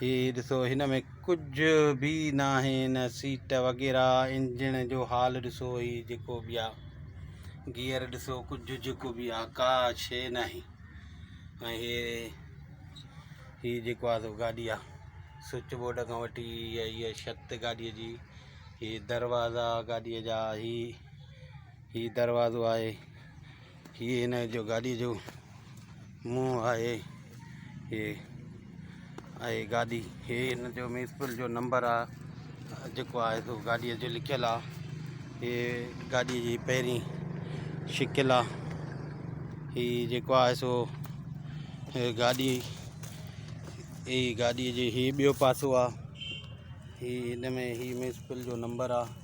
هي ڏسو هن ۾ ڪجهه به ناهي نه سيٽ وغيره انجڻ جو حال ڏسو هي جيڪو به آ گيئر ڏسو ڪجهه جيڪو به آ ڪا شيء ناهي ۽ هي هي جيڪو آ سو گاڏي آ سوئچ بورڊ کان وٺي هي هي شت گاڏي جي هي دروازا گاڏي جا هي هي دروازو آهي هي هن جو گاڏي جو منهن آهي هي آهي گاڏي هي هن جو ميسپل جو نمبر آهي جيڪو آهي سو گاڏيء جو لکيل آهي هي گاڏيء جي پهرين شڪل آهي هي جيڪو آهي سو گاڏي هي گاڏيء جي هي ٻيو پاسو آهي هي هن ۾ هي ميسپل جو نمبر آهي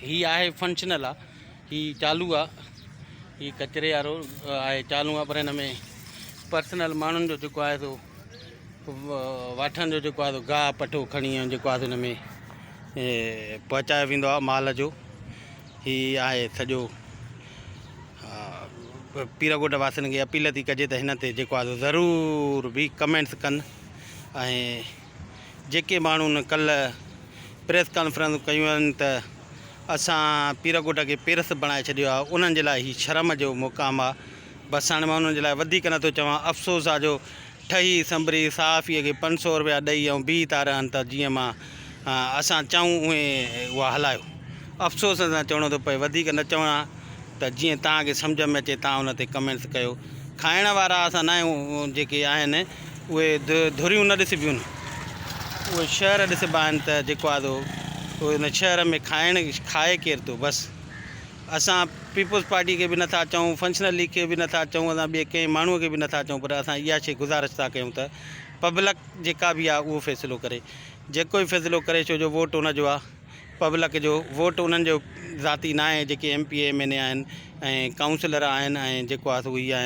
هي آهي فنڪشنل آ هي چالو آ هي ڪچري وارو آهي چالو آ پر هن ۾ پرسنل ماڻهن جو جيڪو آهي سو واٺن جو جيڪو آهي سو گاهه پٺو کڻي ۽ جيڪو آهي سو هن ۾ پهچايو ويندو آ مال جو هي آهي سڄو پير ڳوٺ واسين کي اپيل ٿي ڪجي ته هن تي جيڪو آهي سو ضرور به ڪمينٽس ڪن ۽ جيڪي ماڻهن ڪلهه پريس ڪانفرنسون ڪيون آهن ته اسان پيرڪوٽ کي پيرس بڻائي ڇڏيو آهي انهن جي لاء هي شرم جو مقام آهي بس هاڻي مان انهن جي لاء وڌيڪ نه ٿو چوان افسوس آهي جو ٺهي سنبري صحافي کي پنج سو روپيا ڏئي ۽ بيهي ٿا رهن ته جيئن مان اسان چئون اهي اها هلايو افسوس سان چوڻو ٿو پئي وڌيڪ نه چوان ته جيئن توهان کي سمجهه ۾ اچي توهان ان تي ڪمينٽس ڪيو کائڻ وارا اسان نه آهيون جيڪي آهن اهي ڌريون نه ڏسبيون نه اهي شهر ڏسبا آهن ته جيڪو آدو اهو ان شهر ۾ کائڻ کائي ڪير ٿو بس اسان پيپلز پارٽي کي به نٿا چئون فنڪشنل ليگ کي به نٿا چئون اسان ٻئي ڪنهن ماڻهوء کي به نٿا چئون پر اسان اها شي گذارش ٿا ڪيون ته پبلڪ جيڪا به آهي اهو فيصلو ڪري جيڪو به فيصلو ڪري ڇو جو ووٽ ان جو آهي پبلڪ جو ووٽ انهن جو ذاتي ناهي جيڪي M P A M N A آهن ۽ ڪائونسلر آهن ۽ جيڪو آهي سو اهي آهن.